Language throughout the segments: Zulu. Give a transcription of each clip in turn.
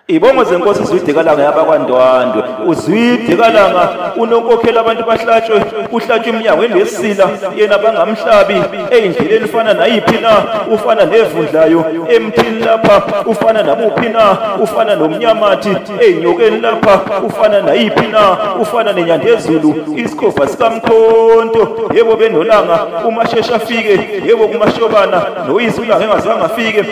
Ibongo zenkosi Zwidikalanga yabakwaNdwandwe uZwidikalanga unonkokhela abantu bahlatshwe kuhlatshwa iminyango enesila yena bangamhlabi eyindleleni ufana nayiphi na ufana nevundlayo emthini lapha ufana namuphi na ufana nomnyamathi eyinyokeni lapha ufana nayiphi na ufana nenyandezulu isikhova sikamkhonto yebo benolanga umashesha afike yebo kumashobana noyise ulanga engazange afike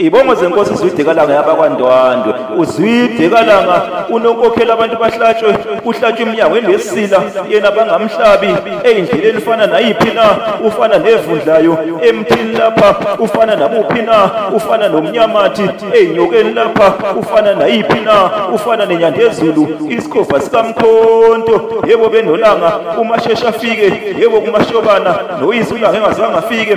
Ibongo zenkosi Zwide Kalanga yabakwaNdwandwe uZwide Kalanga unonkokhela abantu bahlatshwe kuhlatshwe iminyango enesila yena bangamhlabi eyindleleni fana nayiphi na ufana nevundlayo emthini lapha ufana namuphi na ufana nomnyamathi eyinyokeni lapha ufana nayiphi na ufana nenyandezulu isikhova sikamkhonto yebo benolanga umashesha afike yebo kumashobana noyizulanga engazange afike